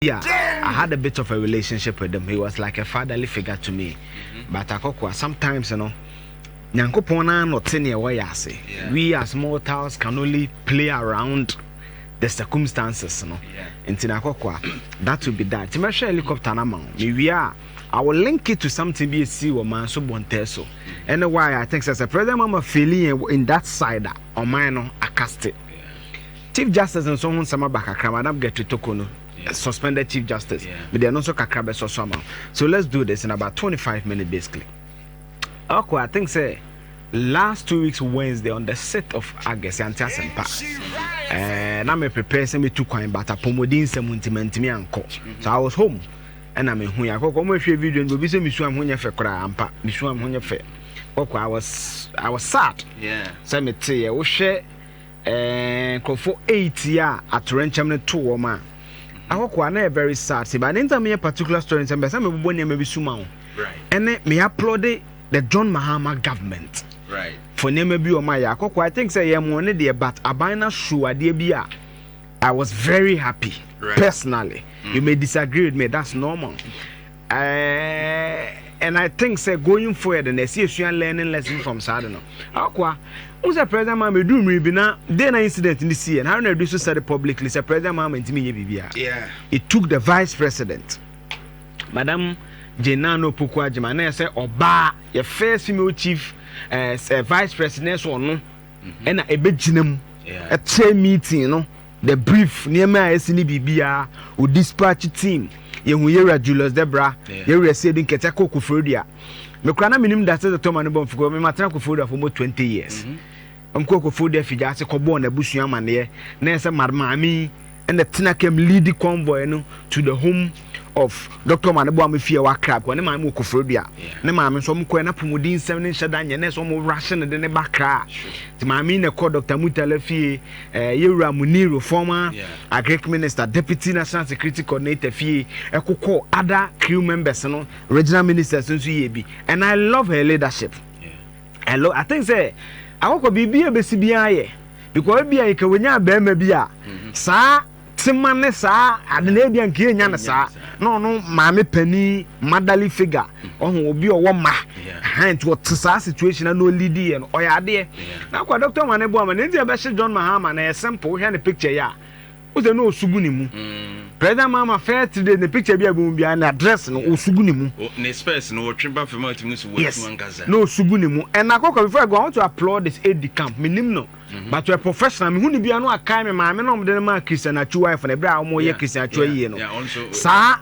bi a I had a bit of a relationship with him he was like a fatherly figure to me mm-hmm. but akɔkoa sometimes no nyankopɔn naa na ɔte nea ɛwɔ yɛ ase we as mortals can only play around the circumstances no nti na akɔkoa that will be that nti mɛhwɛ helicopter no ama wo mewie a I will link it to something be a see or man so bonte so. And why I think as a president mama feeling in that side or mine no akaste. Chief Justice nso ho nsɛm aba kakra, Madam Gertrude Toko no, suspended Chief Justice. Yeah. Mede ɛno nso kakra bɛsɔ so ama wo. So let's do this in about 25 minutes basically. Okay, I think say last two weeks Wednesday on the 6th of August, yɛante asɛmpa. Eh, na me prepare sɛ metu kwan but apɔmuden nsɛm nti mantumi ankɔ. So I was home ɛna mehu yɛ akɔkɔ ɔmo ehwɛ video no obi sɛ mesuam ho nyɛ fɛ koraa ampa mesuam ho nyɛ fɛ kɔkɔ I was I was sad sɛ mete yɛ wohwɛ. Ɛɛɛɛɛ nkorɔfoɔ eighty a atorɛnkyɛm no too wɔn a akɔkoa na ɛyɛ very sad sɛ but ne nta meyɛ particular story nsɛm bɛ sɛ mebobɔ nneɛma bi so ma wo ɛne me applaud the John Mahama government for nneɛma bi wɔn ayɛ akɔkoa I think sɛ yɛ mo ne deɛ but aban na show adeɛ bi a I was very happy personally you may disagree with me that's normal Ɛɛɛɛɛ and I think sɛ going forward no ɛsɛ yɛsua learning lesson from saa de no. Akoa, wohu sɛ President Mahama ɛduru mmere bi na dɛn na incident no siiɛ no Haruna Iddrisu said it publicly sɛ President Mahama ntumi nyɛ biribiara. Yeah. It took the Vice President, Madam Jane Nana Opoku Agyemang na ɛsɛ ɔbaa yɛ first female chief eh, eh, Vice President na ɛsɛ ɔno ɛna ɛbɛgyina mu Yeah. ɛkyɛ meeting no The brief nneɛma a ɛsi ne biribiara o dispatch team yɛ hu yɛwura Julius dɛ bra yɛwura sɛ ebi nkɛtɛ kɔ kofrodua me kora na me nim da sɛ sɛ tɔma ne bɔ mfukɔ me ma tena kofrodua for mo 20 years ɔm kɔ kofrodua figya ase kɔ bɔɔ na busua amaneɛ na yɛ sɛ mad maame ɛna tena kɛm lead convoy no to the home of Doctor ma ne boa me fie wɔ Accra kɔ ne maame wɔ Koforidua ne maame nso ɔmo kɔɛ n'apɔmuden nsɛm ne nhyɛ da nyɛ nɛɛs ɔmo wurahye ne de ne ba Accra nti maame yi na ɛkɔ Doctor Mutala fie ɛɛ eh, yɛwura Muniru former agric minister deputy national security coordinator fie ɛkokɔ other crew members no regional ministers nso yɛ bi and I love her leadership I love I think sɛ akɔkɔ biribi a ebesi biara yɛ because ebi a yɛ kɛ wɔnya abɛɛma bi a mm-hmm. saa. tema ne saa ade na ebia nka yɛnya no saa na ɔno maame panin motherly figure ɔho obi ɔwɔ mma ɛhan nti ɔte saa situation na ɔlidi yɛ no ɔyɛ adeɛ na akwa dɔkta ma ne boa ma ne nti ɛbɛhyɛ John Mahama na ɛyɛ simple wohwɛ ne picture yi a wosɛ na ɔsu gu ne mu mm. President Mahama first three days ne picture bi a bɛhu biara ne address no ɔsu gu ne mu ne space no wɔtwe ba fam a tumi so wɔatu ankasa na ɔsu gu ne mu ɛna akɔkɔ before I go I want to applaud this AD camp menim no Mm-hmm. But to a professional, me huni bi ano akai me maame na ɔmde no ma Christian Atsu wife na ebere a ɔmo yɛ Christian Atsu ayie no. Saa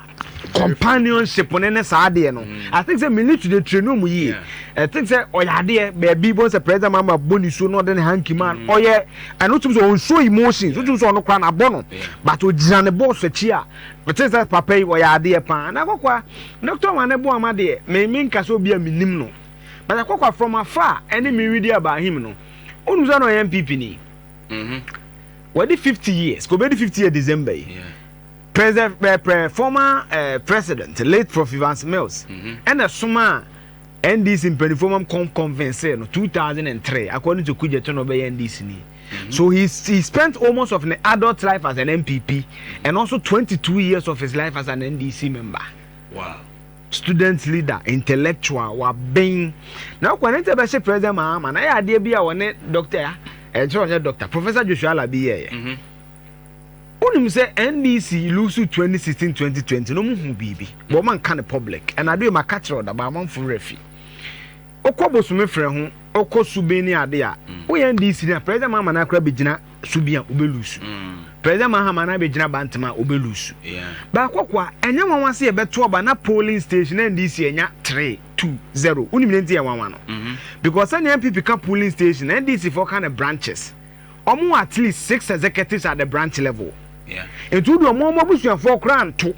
companionship ne ne saa adeɛ no. Mm. I think sɛ me need to dey train ɔmo yie. I think sɛ ɔyɛ adeɛ baabi bɔ sɛ president mama bɔ ne so na ɔde ne hanky man mm. ɔyɛ ɛno wotum sɛ ɔn show emotions wotum sɛ ɔno kora na abɔ no but ogyina ne bɔɔso akyi a ɔte sɛ papa yi ɔyɛ adeɛ paa na akɔkɔa doctor wane bɔ ama deɛ me me nka sɛ obi a menim no but akɔkɔa from afar ɛne me redi about him no. Wonu sɛ na ɔyɛ NPP ni. Mhm. Wadi 50 years. Ko bedi 50 years December yi. Yeah. President eh, pre, former eh, president late Prof Evans Mills. Mhm. Ɛna soma NDC mpanimfoɔ mam kɔn convince no 2003 according to Kudje to na ɔbɛyɛ NDC ni. Mhm. So he, he spent almost of an adult life as an NPP and also 22 years of his life as an NDC member. Wow. student leader intellectual waben na ɔkɔ ne ntɛ bɛhyɛ president mahama na yɛ adeɛ bi a wɔne doctor a ɛnkyerɛ ɔnyɛ doctor professor joshua alabi yɛɛyɛ mhm. wonim sɛ ndc lusu 2016 2020 no mu hu biribi bɔ ɔma nka ne public ɛna adeɛ ma ka kyerɛ ɔdaba amanfo werɛ fi wokɔ bosome frɛ ho wokɔ suben ne ade a mm. woyɛ ndc na president mahama no akora bɛgyina so bi a wobɛ lose president mahama na abɛgyina bantama a wobɛ lose baakɔkɔ a ɛnyɛ nwanwa se yɛbɛto aba na polling station na ndc anya 3 2 0 wonim ne nti yɛ nwanwa no mhm. because sɛnea mpp ka polling station na ndc foɔ ka ne branches ɔmo wɔ at least six executives at the branch level nti wode ɔmo ɔmo abusuafoɔ koraa nto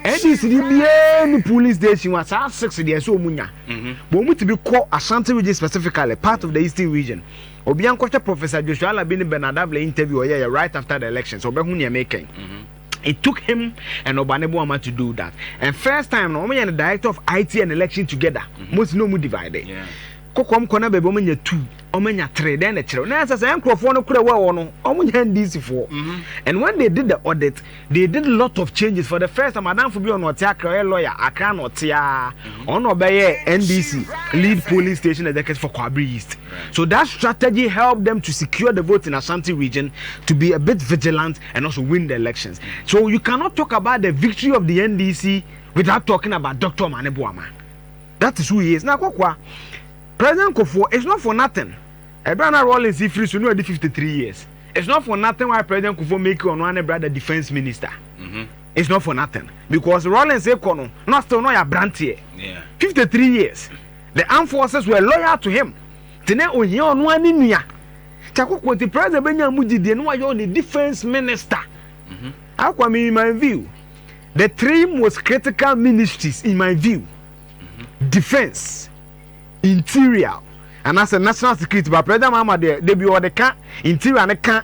ADCD biara ni polling station wa saa six deɛ ɛsɛ ɔmu nya bɔ ɔmu tibi kɔ Ashanti region specifically part of the eastern region obia nkɔhwɛ Professor Joshua Alabi ne Bernard Abla interview ɔyɛyɛ right after the elections ɔbɛhu neɛ mekɛn it took him and Obane Boama to do that and first time no ɔmo yɛ no director of IT and election together mo si na ɔmu divide yeah. Kokoam kɔ na baabi wɔn anya tu, wɔn anya tere, dɛn na ɛkyerɛw? Na ɛsɛ sɛ nkurɔfoɔ no kura wɔ ɛwɔ no, wɔn nyɛ NDCfoɔ. And when they did the audit, they did lot of changes for the first time. Adanfo bi wɔ no ɔte Accra, ɔyɛ lawyer, Accra na ɔte aa, ɔno na ɔbɛyɛ NDC lead polling station executive for Kwabere East. So that strategy helped them to secure the vote in Ashanti region, to be a bit vigilant and also win the elections. So you cannot talk about the victory of the NDC without talking about Doctor Omane Boamah. That is who he is. Na Akwakoa, President Kufuor, it's not for nothing. Ɛberɛ a na Rawlings refiri so no wadi 53 years. It's not for nothing why President Kufuor make ɔno ara ne brother defence minister. It's not for nothing. Because Rawlings rekɔ no, na still na ɔyɛ aberanteɛ. 53 years. The armed forces were loyal to him. Nti na ohia ɔno ara ne nua. Nti Akwakoa nti president bɛnya mu gyidie na wayɛ ɔne defence minister. Akwakoa me in my view. The three most critical ministries in my view, defence, interior anaasɛ national security ba president mahama deɛ de bi ɔde ka interior ne ka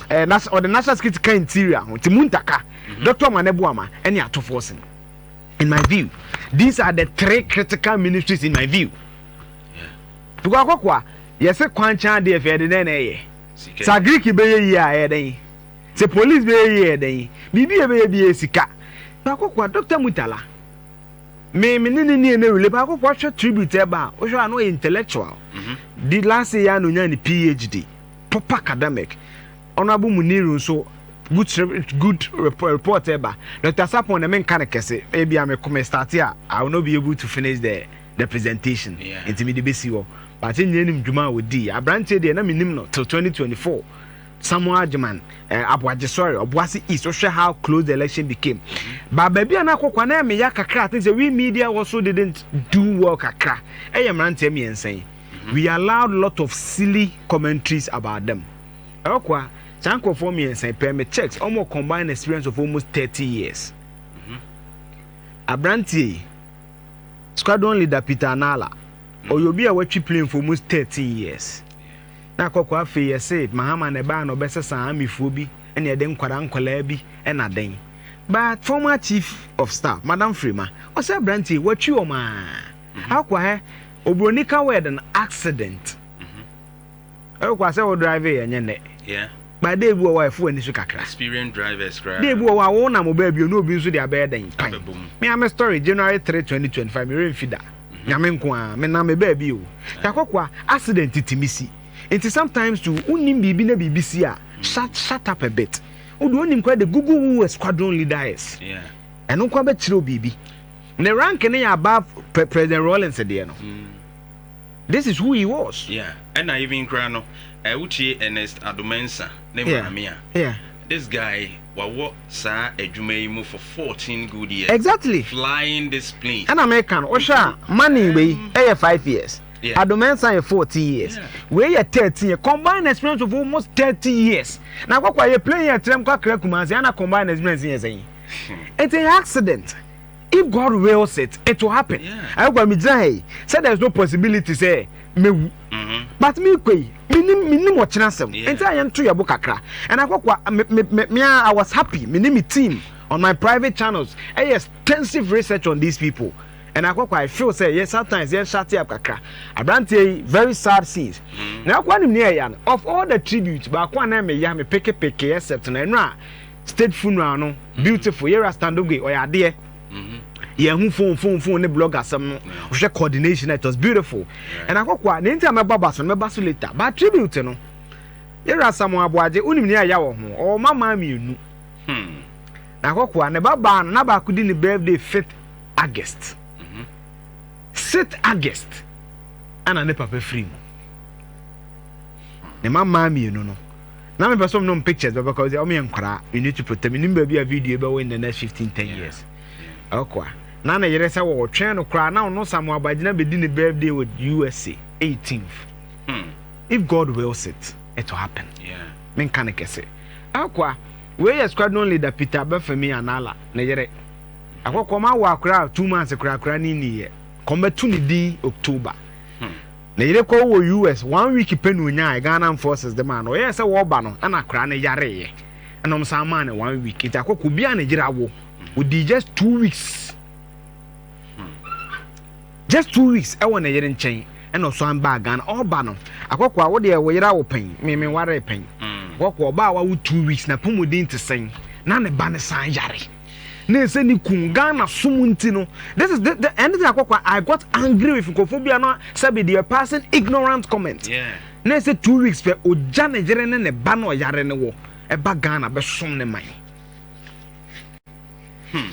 eh, nas, ɔde national security ka interior ho nti mu ntaka mhm. dɔkta ɔma ne boama ɛne atofoɔ sen in my view these are the three critical ministries in my view tukɔ akɔkoa yɛse kwankyɛn adeɛ fɛ ɛde dɛn na ɛyɛ sa greek bɛyɛ yie a ɛyɛ dɛn Sɛ police bɛyɛ yi ɛyɛ dɛn? Biribi a ɛbɛyɛ biara sika. Akokwa, Doctor Murtala, me me ne no nni ɛnɛ relate, but Akokwa hwɛ tribute a ɛba a, wohwɛ a na ɔyɛ intellectual. Di last year yi ara na ɔnyaa ne PhD, proper academic. Honourable Muniru nso, good script, good report ɛba. Doctor Sarpong deɛ menka no kɛse, ebia me me start a, I will not be able to finish the the presentation, nti mede bɛsi hɔ. But nnyɛ nim dwuma a ɔdii. Aberanteɛ deɛ na mennim no till 2024. Samuel Agyeman, eh, Aboagye, sorry, Obuasi East, wohwɛ how close the election became. Mm-hmm. Ba baabi a na akɔkwa na ɛmɛ ya kakra, I think sɛ we media also didn't do well kakra. Ɛyɛ mmeranteɛ mmiɛnsa yi. Mm-hmm. We allowed lot of silly commentaries about them. Ɛkwa, saa nkurɔfoɔ mmiɛnsa pɛɛ me checks, wɔn combined experience of almost thirty years. Mm-hmm. Aberanteɛ yi, squadron leader Peter Anala, ɔyɛ obi a watwi plane for almost thirteen years. Na kɔkɔ afei yɛse Mahama na ɛbaa na ɔbɛsesa army foɔ bi ɛne ɛde nkwadaa nkwadaa bi ɛna dɛn but. Former chief of staff madam Frema ɔse abranteɛ yi watwi wɔn aa akwa hɛ obroni ka word no accident ɛkɔ asɛ wo drive yɛ ɛnyɛ nɛ. But da bi wɔ hɔ a ɛfo w'ani so kakra. Da bi wɔ hɔ a wo nam ɔbaa bio na obi nso de abɛyɛ dɛn? Pan. Me ara me story, January 3, 2025, me werɛ mfi da. Mhm. Nyame nko ara, me nam me baa bio. Eh. Takɔkwa, accident tumi si. Nti sometimes too, wonim biribi na biribi si a, mm. shut, shut up a bit. Wo deɛ wonim koraa de google who a squadron leader is. Ɛno nko ara bɛkyerɛ wo biribi. Ne rank no yɛ above President Rawlings deɛ no. Mm. This is who he was. Yeah ɛna even koraa no eh, wotie Ernest Addo Mensah ne maame a, this guy wawɔ saa adwuma yi mu for 14 good years. Exactly. Flying this plane. Ɛna meka no, wohwɛ a money wei ɛyɛ 5 years. Yeah. Addo Mensah yɛ 14 years. Yeah. Wei yɛ 13 years. Combined experience of almost 30 years. Na akɔkɔ ayɛ plane yɛ trɛm kɔ akra Kumasi, ɛna combined experience yɛ sɛn. Ɛnti hmm. ɛyɛ accident. If God wills it, it will happen. Ɛyɛ kwa mi gyina ha yi sɛ there is no possibility sɛ mewu. Mm-hmm. But mi kɔ yi, mi ni mi ni mo kyerɛ asɛm. Nti a yɛn to yɛ bo kakra. And akɔ kwa me me me me I was happy. Me ni mi team on my private channels. Ɛyɛ extensive research on these people. And akɔ kwa I feel sɛ yɛ sometimes yɛn shut up kakra. Abranteɛ yi very sad scenes. Mm-hmm. Na akɔ anim ni ɛya no of all the tributes baako a na ɛmɛ ya me peke peke except na ɛno a. State funeral no mm-hmm. beautiful yɛwura standoge ɔyɛ adeɛ mm-hmm. yɛn ho phone phone phone ne blog asɛm no ɔhwɛ coordination it was beautiful ɛna akɔkɔ a ne nti a mɛbɔ aba so no mɛba so later but tribute no yɛwura samu aboagye wonim ne aya wɔ ho ɔwɔ ma maa mmienu hmm. na akɔkɔ a ne ba baa no na baako di ne birthday fifth august mm-hmm. sixth august ɛna ne papa firi mu ne ma maa mmienu no Na mepɛ sɛ ɔmo nom pictures bɛbɛ kɔ sɛ ɔmo yɛ nkwaraa you need to protect menim baabi a video bɛwɔ in the next fifteen ten years ɔkɔ a na ne yere sɛ wɔtwɛn no koraa na ɔno Samuel Abagyina bɛdi ne birthday wɔ USA eighteenth hmm. if God wills it it will happen menka ne kɛse ɔkɔ a wei yɛ squadron leader Peter Bafemi Anala ne yere akɔkɔm awɔ akora two months koraa koraa ne niyɛ kɔmbɛto ne din October hmm. Ne yere kɔɔ wɔ US. One week pɛ na ɔnyaeɛ, Ghana Armed Forces de maa no. Ɔyɛɛ sɛ wɔreba no, ɛna akwadaa no yareeɛ, ɛna wɔsan maa no one week. Nti akɔkɔ obi a ne yere awo. Ɔdii just two weeks, just two weeks wɔ ne yere nkyɛn, ɛna ɔsan baa Ghana. Ɔreba no, akɔkɔ a wo deɛ wo yere awo pɛn, me menwaree pɛn. Akɔkɔ ɔbaa a wawo two weeks, n'apɔmuden te sɛn? Na ne ba no san yare. na ɛsɛ ne kun Ghana som nti no this is the, the anything akɔkɔ I got angry with nkurɔfoɔ bi a na sɛbi deɛ passing ignorant comment yeah. na ɛsɛ two weeks pɛ ɔgya ne yere ne ne ba na ɔyare ne wɔ ɛba Ghana bɛsom ne man hmm.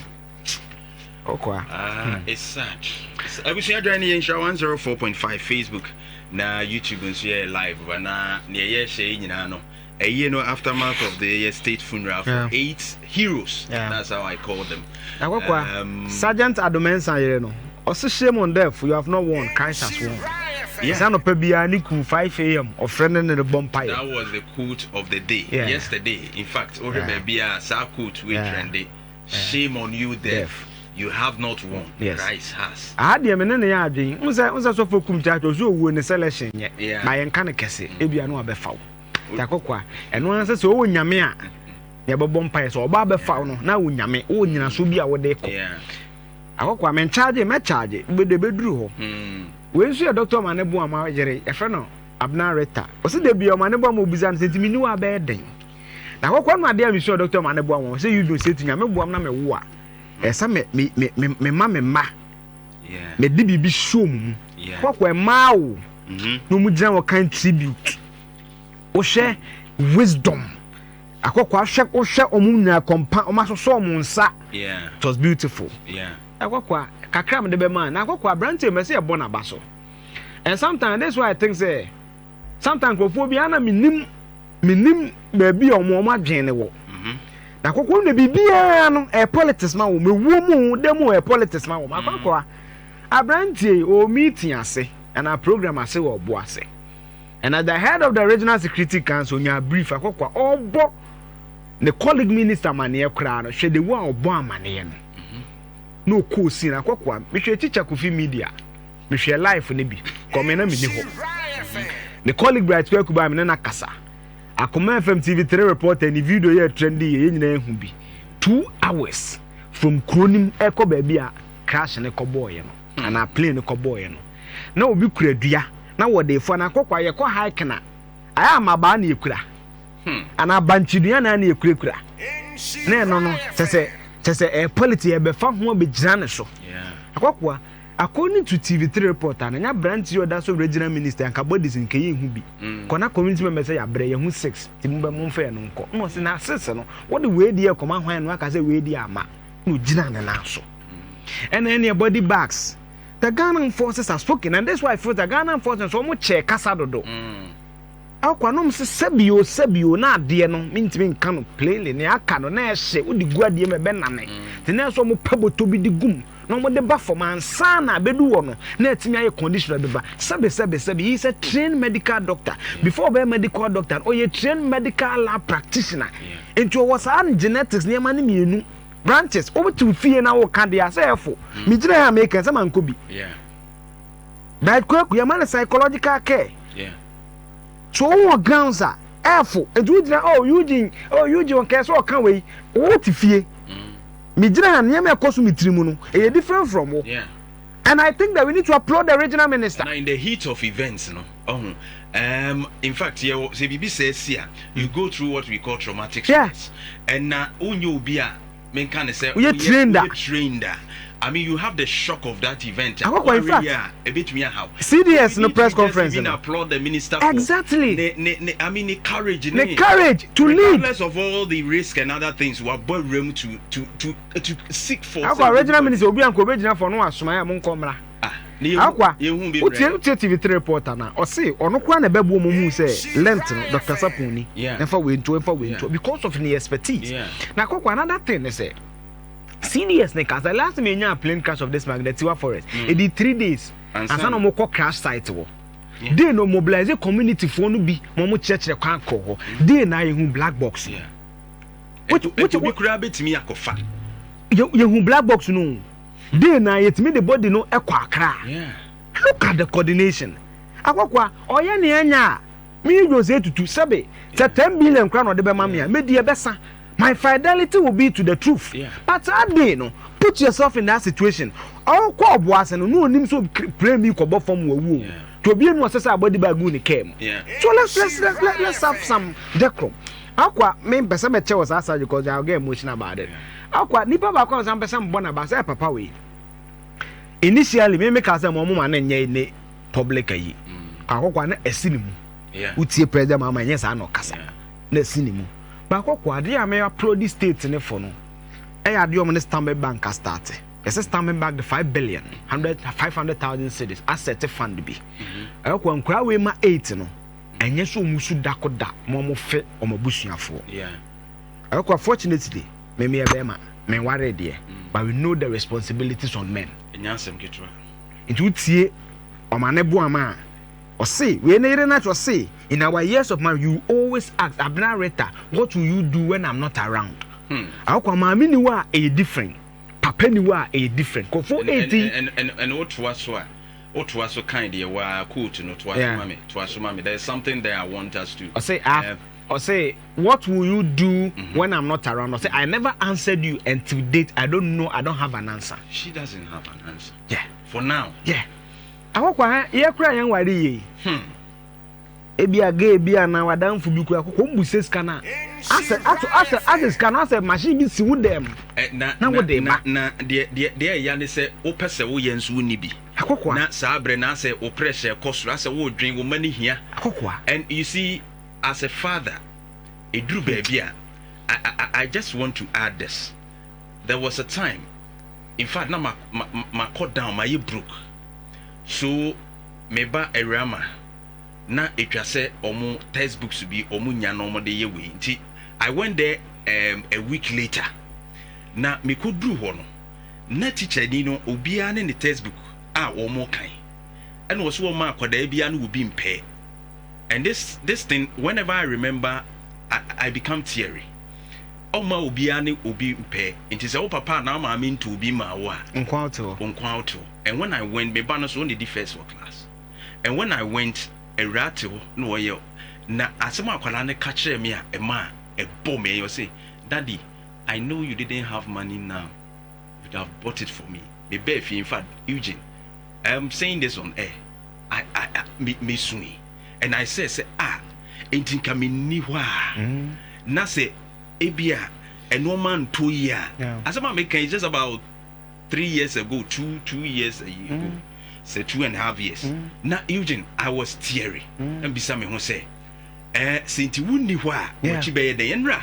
ɔkɔa ah, hmm. abusua dwan ne yɛnhyira 104.5 Facebook na YouTube nso yɛ live ba na neɛ yɛhyɛ yi nyinaa no Ɛyie no aftermath of the yɛ state funeral for yeah. eight heroes yeah. that's how I call them. Akɔkɔa um, Sergeant Adomensa yere no ɔsi shame on death you have not won Christ has won. Yes, I know Pebia Niku 5 a.m. or friend in the bonfire. That was the quote of the day. Yeah. Yesterday, in fact, Ore yeah. Bebia, Sa quote, we yeah. trendy. Shame on you, death. death. you have not won yes. christ has aha deɛ me ne ne yɛ adwen wo sɛ wo sɛ sɔfo kum kyakye ɔsɛ ɔwuo ne selection nyɛ na yɛnka no kɛse ebia no abɛfa wo Yɛakɔ kwa. Ɛno ara sɛ sɛ ɔwɔ nyame a yɛbɛbɔ mpaeɛ sɛ ɔba abɛfa wo no na wo nyame wowɔ nyinasoɔ bi a wode kɔ akɔ kwa menkyagye mɛkyagye bɛde bɛduru hɔ wei nso yɛ dɔkta ɔma ne bo ama yere yɛfrɛ no abena reta ɔsɛ da bia ɔma ne bo ama obisa no sɛ nti menni wɔ abɛyɛ dɛn na akɔkwa no adeɛ a mesua dɔkta ɔma ne bo ama sɛ yudwo sɛ ti nyame boam na mewo a ɛsɛ me mema me mma na ɛde biribi hyɛ wɔn mu. Kɔkɔ ɛmaa wo na wɔn gyina hɔ kan tribute. Wohwɛ wisdom, akɔkɔ ahwɛ wohwɛ wɔn nyinaa kɔmpa, wɔn asosɔ wɔn nsa. It was beautiful. Akɔkɔ a kakra a mede bɛma na akɔkɔ aberante mɛ sɛ yɛbɔ n'aba so and sometimes this is why I think sɛ. Sometimes nkurɔfoɔ bi ana menim menim baabi a wɔn wɔn adwene ne wɔ. Mhm. Na kɔkɔɔ na biribiara no ɛyɛ politics ma wɔn ewuo mu da mu ɛyɛ politics ma wɔn akɔkɔa. Mhm. Aberanteɛ yi ɔwɔ meeting ase ɛna program ase wɔ ɔbo ase. And as the head of the regional security council nya brief akɔkɔa ɔbɔ ne colleague minister amaneɛ koraa no hwɛ de wo a ɔbɔ amaneɛ no. Mhm. Na ɔkɔɔ sin akɔkɔa mehwɛ kyikya kofi media. Mehwɛɛ life no bi kɔmee na menni hɔ. Me colleague Bright Kweku baa me ne no akasa. Akoma FM TV3 reporter ne video yɛ trendy yɛ yɛn nyinaa ehu bi. Two hours from kuro no mu ɛrekɔ baabi a crash no kɔbɔɔeɛ no anaa plane no kɔbɔɔeɛ no. Na obi kura dua na wɔde refua na akɔkɔ a yɛkɔ hiking a ayɛ a mmabaa na yɛkura anaa bankye dua na na yɛkurakura na ɛno no kyɛ sɛ kyɛ sɛ ɛyɛ politics yɛbɛfa ho abɛgyina ne so. Akɔkɔ a According to TV3 reporter, na nyɛ aberanteɛ yi a ɔda so regyina minister yi, anka bodies no, kɛyɛ nhu bi. Kɔ na community member sɛ yɛabrɛ, yɛahu six, nti mommɛ momfa yɛn no nkɔ. Ɛna ɔse na six no, wode wei deɛ rekɔma hwan na woaka sɛ wei deɛ amma? Ɛna ɔgyinaa ne nan so. Ɛna ɛneɛ body bags, the Ghana armed forces has spoken and this is why I feel that Ghana armed forces nso wɔn kyɛɛ kasa dodo. Ɛwɔ kwa na wɔn se sɛbi o sɛbi o na adeɛ no mentumi nka no plainly, nea aka no na ɛhye, wode gu adeɛ mu ɛbɛnane, nti na ɛsɛ wɔn pɛ bɔtɔ bi de gum. na wɔde ba fam ansa na abedu hɔ no na atumi ayɛ conditioner bi ba sɛbe sɛbe sɛbe he is a trained medical doctor before ɔbɛyɛ medical doctor no ɔyɛ trained medical lab practitioner nti ɔwɔ saa genetics nneɛma no mmienu branches wobɛtew fie na woka deɛ asɛ ɛfo megyina ha a meka sɛ mankɔ bi but kwaku yɛma no psychological care so wowɔ grounds a ɛfo nti wogyina oh Eugene oh Eugene ɔkɛɛ sɛ ɔka wei wote fie Me gyina ha nneɛma ɛkɔ so me tirimu no ɛyɛ different from wo and I think that we need to applaud the regional minister. Na in the heat of events no ɔho um, in fact yɛwɔ sɛ biribi sɛ si a you go through what we call traumatic stress ɛna wonyɛ obi a menka ne sɛ woyɛ trained a I mean you have the shock of that event a wɔawe yɛ a. Cds no press conference no exactly ne courage to lead Akwa original minister obi anka obegyina fɔ no wasomae a monkɔ mmra Akwa wotie wotie TV three reporter na ɔse ɔno koraa na ɛbɛboɔ mo hu sɛ length no Doctor Sapon ni ɛmfa wei nto ɛmfa wei nto because of ne expertise na Akwa another thing ne sɛ Serious ne ka sɛ last time yɛnyaa plane crash of this mag the Tiwa forest mm. ɛdi three days ansa na wɔkɔ crash site wɔ yeah. day no mobilize community foɔ no bi ma wɔn kyerɛkyerɛ kwan kɔ hɔ mm. day na yɛhu black box no. ɛtu bi koraa bɛtumi akɔfa. yɛhu black box no day na yɛtumi de body no ɛkɔ akra look at the coordination akɔkɔa ɔyɛ nea ɛnya a. Me ye Jose Tutu, sɛbe sɛ ten billion koraa na ɔde bɛma me a, medi ɛbɛsa, my fidelity will be to the truth, but saa day no, put yourself in that situation, ɔrekɔ ɔboa ase no, na ɔnim sɛ obi pray me kɔbɔ fam wɔ awuo mu, nti obie mu ɔsɛ sɛ abɔ adiba gu ne car mu, so let's let's let's let's have some decorum, Aqua, me mpɛ sɛ mɛkyɛ wɔ saa surgery cause I will get emotional about it, Aqua, nipa baako a ɔsan pɛ sɛ mebɔ no aba, sɛ papa wei, initially me me kaa sɛ ma ɔmo ma no nyɛ ne public ayi akɔkɔa na ɛsi ne mu wotie president maama ɛnyɛ saa na ɔkasa na ɛsi ne mu baakɔkɔ adeɛ a mɛ aprodi state ne fo no ɛyɛ adeɛ ɔmo ne stanbic bank a start ɛsɛ stanbic bank de five billion hundred five hundred thousand cities asset fund bi ɛkɔ nkura wei ma eight no ɛnyɛ sɛ ɔmo su dako da ma ɔmo fɛ ɔmo abusuafoɔ ɛkɔ fortunately mɛmɛ ɛbɛɛma mɛnware deɛ but we know the responsibilities on men ɛnyɛ asɛm ketewa Nti wo tie ɔma ne boa ma ɔse wei ne yere na kyerɛ se in our years of marriage you always ask Abena Rita what will you do when I'm not around Akwa maame ni hɔ a ɛyɛ different papa ni hɔ a ɛyɛ different kofo eti ɛne wo toa so a wo toa so kan deɛ waa quote no toa so ma me toa so ma me there is something there I want us to ɔse ah. Ɔse what will you do when I'm not around ɔse I never answered you and till date I don't know I don't have an answer. She doesn't have an answer. Yeah. For now. Yeah. Akɔkɔ ha yɛ kura yɛn wari yie yi. Hmm. Ebi a gay bi a na wadanfo bi kura akɔkɔ mbu sɛ sika na asɛ ato asɛ asɛ sika na asɛ machine bi si wo dɛm. Eh, na na wo de ba. Na deɛ deɛ deɛ ɛya ne sɛ wopɛ sɛ woyɛ nso wo ni bi. Akɔkɔ. Na saa abirɛ na asɛ wo pressure kɔ soro asɛ wo dwen wo ma ne hia. Akɔkɔ. And you see. As a father, ɛduru baabi a, I I just want to add this, there was a time, in fact na ma ma makɔ down, mayɛ broke, so me ba Awurama na ɛtwa sɛ wɔn text books bi wɔn nya na wɔn de yɛ wei nti I went there um, a week later, na mekɔ duru hɔ no, na teacher ni no obiara ne ne text book a wɔn rekan, ɛna ɔsɛ wɔn ma akwadaa biara no wɔ bi mpɛɛ. and this this thing whenever I remember I, I become teary ɔma obiara ne obi pɛ nti sɛ wo papa anaa maame ntu obi maa wo a nkwa wotew nkwa wotew and when I went me ba no so ɔna di first wɔ class and when I went awura te hɔ na ɔyɛ na asɛm akwadaa no ka kyerɛ me a ɛma ɛbɔ me ɛyɛ ɔse daddy I know you didn't have money now You'd have bought it for me. Me bɛɛ fie, in fact, Eugene, I am saying this on air. I, I, I me, me sui. And I say, say, ah, enti nka me ni hɔ a, mm. na sɛ ebi a, ɛnoɔma nto yi a, asɛm a meka is just about three years ago, two, two years ago, mm. sɛ two and a half years. Mm. Na Eugene, I was teary. Mm. Na mbisa me ho sɛ, eh, sɛ nti wonni hɔ a, wɔkyi bɛyɛ dɛn? Ɛnra,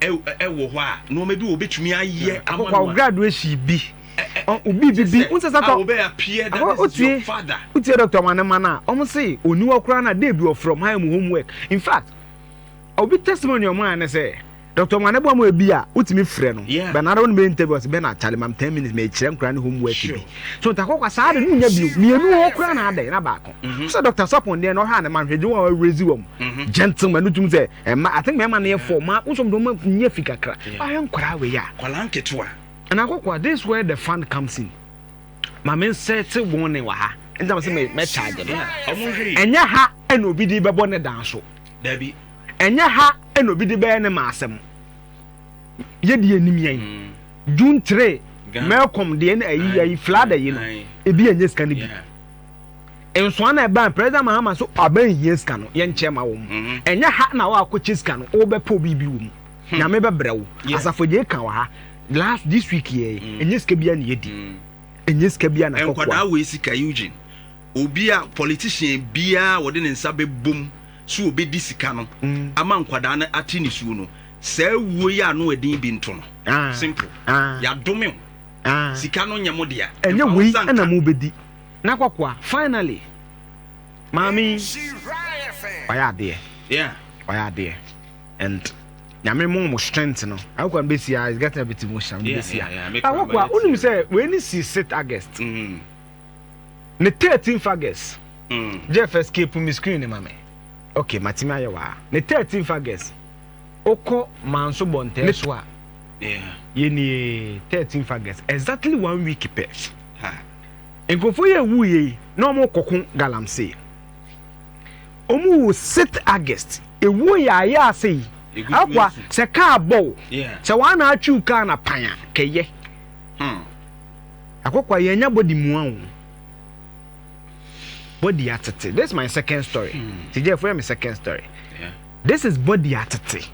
wɔ hɔ a nneɛma bi wɔ betumi ayɛ ama no a graduation bi obi bi bi wosɛ sɛ tɔ wotie wotie dɔkta wanema no a wɔn se oni hɔ koraa no a dee bi wɔ from high mu homework in fact obi testimony wɔn a ne sɛ dɔkta wɔn aneboa mu ebi a wotumi frɛ no bɛn ara wɔn bɛ interview ɔsɛ bɛn na akyale mam ten minutes mɛ ekyerɛ nkora ne homework bi so ntakɔkwa saa de no nya bi mmienu hɔ koraa na adɛ na baako. Mm-hmm. Sɛ Dr. Sapon deɛ na ɔhwɛ a ne ma nhwɛ gye wɔn a wɔrezi wɔn. Mm-hmm. Gentleman no tum sɛ ɛma I think mɛma no yɛ fɔ ma wosɔm de ɔma nyɛ fi kakra. Ɔhwɛ nkwadaa wei a. Kwadaa nketewa. Ɛna akɔkɔa this where the fund comes in. Maame nsɛ te wɔn ne wɔ ha. Ntam sɛ mɛ mɛ charge no. Ɛnyɛ ha ɛna obi de bɛbɔ ne dan so. Dabi. Ɛnyɛ ha ɛna obi de bɛyɛ ne ma asɛm. Yɛ di anim yɛn. Mm. June three. Mɛkɔm deɛ ne ayi ayi fila da yi no. Ebi ɛnyɛ sika ne bi. Nsoa na ɛbaa President Mahama so aba nhia sika no yɛnkyɛ ma wɔn. Ɛnyɛ ha na wɔakɔkyɛ sika no wobɛpɛ obi bi wɔ mu. Nyame bɛbrɛ wo. Asafo agya eka wɔ ha last this week yɛ ɛnyɛ sika biara na yɛdi. Ɛnyɛ sika biara na kɔkoa. Nkwadaa wei sika Eugene. Obi a politician biara a wɔde ne nsa bɛbom so wɔbɛdi sika no ama nkwadaa no ate nisuo no saa wuo yi ano ɛden bi nto no. Simple. Yɛadome wo. Sika no nyɛ mo dea. Ɛnyɛ wei na mo bɛ di. Na kɔkoa finally maame yi wayɛ adeɛ yeah wayɛ adeɛ and nyame mo mo strength no. Akɔkoa mi bɛ si a is getting a bit emotional mi bɛ si a. Akɔkoa onim sɛ wei ni si sit August mm. ne thirteenth August mm. Jeff escape mi screen ni ma mi okay ma ti mi ayɛ waa ne thirteenth August okɔ manso bɔ ntɛ so a. Yeah. Yɛ nie thirteen fagɛs exactly one week pɛ. Ha. Nkurɔfoɔ yɛ ewu yɛ yi na wɔn kɔko galamsey. Wɔn wu six August ewu yɛ ayɛ ase yi. Akwa sɛ kaa bɔ wo sɛ wɔn ana atwiw kaa na pan a kɛyɛ. Hmm. Akokwa yɛn nya body mua o. Body atete. This is my second story. Hmm. Tijɛ fo yɛ mi second story. Yeah. This is body atete.